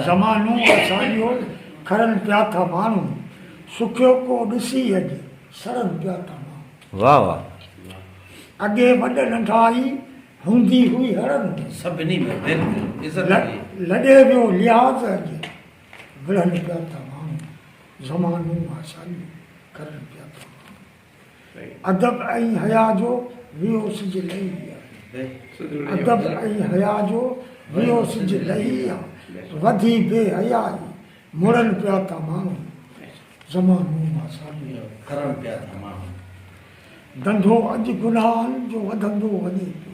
زمانو اسانجو کرن پيا ٿا ماڻهو سکيو ڪو ڏسي اڄ سڙن پيا ٿا ماڻهو. واھ واھ. اڳي وڏ ننڍائي هوندي هئي هڙن ۾. سڀني ۾ دل دل عزت هئي. لڏي ويو لحاظ اڄ وڙهن پيا ٿا ماڻهو زمانو اسانجو کرن پيا ٿا ماڻهو. ادب ۽ حياء جو ويو سج لهي ويا. ادب ۽ حياء جو ويو سج لهي ويا. وڌي بي حيائي مڙن پيا ٿا ماڻهو. زمانو ماساڻي ڪرڻ پيا ٿا ماڻهو. ڌنڌو اڄ گناهن جو وڌندو وڃي پيو.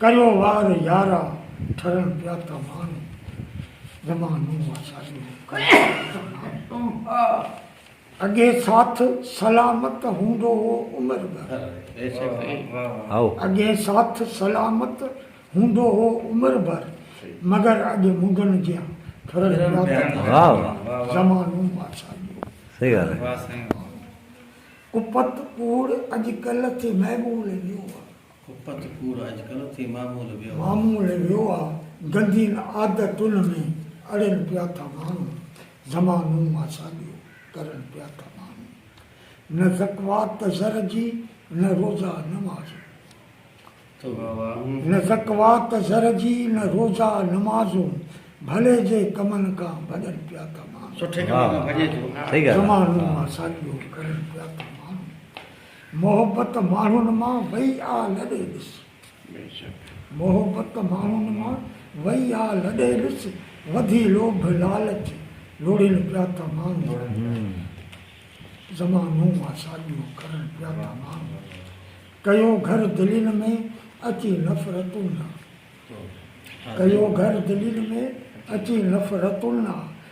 ڪريو وار يارا ٺرڻ پيا ته ماڻهو زمانو آ شادي ۾ اڳي ساٿ سلامت هوندو هو عمر ڀر اڳي ساٿ سلامت هوندو هو عمر ڀر مگر اڄ منگن جيان ٺرڻ پيا ته ماڻهو زمانو آ شادي ۾ ڪپت ڪوڙ اڄڪلهه تي معمول ڏيو ڪپت ڪوڙ اڄڪلهه ٿي معمول ويو آ. معمول ويو آ، گندين عادتن ۾ اڙين پيا ٿا ماڻهو، زمانو ماساڏيو ڪرن پيا ٿا ماڻهو، نه زڪوات ته زر جي، نه روزا نماز هون. توبه واه هون. نه زڪوات ته زر جي، نه روزا نماز هون، ڀلي جي ڪمن کان ڀڄن پيا ٿا ماڻهو. سٺي ڪمن کان ڀڄي ٿو. زمانو ماساڏيو ڪرن پيا ٿا ماڻهو. محبت ماڻهن مان وئي آ لڏي ڏس. محبت ماڻهن مان وئي آ لڏي ڏس، وڌي لوڀ لالچ لوڙين پيا ٿا ماڻهو. زمانو آ ساڳيو ڪرن پيا ٿا ماڻهو. ڪيو گهر دلين ۾ اچي نفرتون آ. ڪيو گهر دلين ۾ اچي نفرتون آ.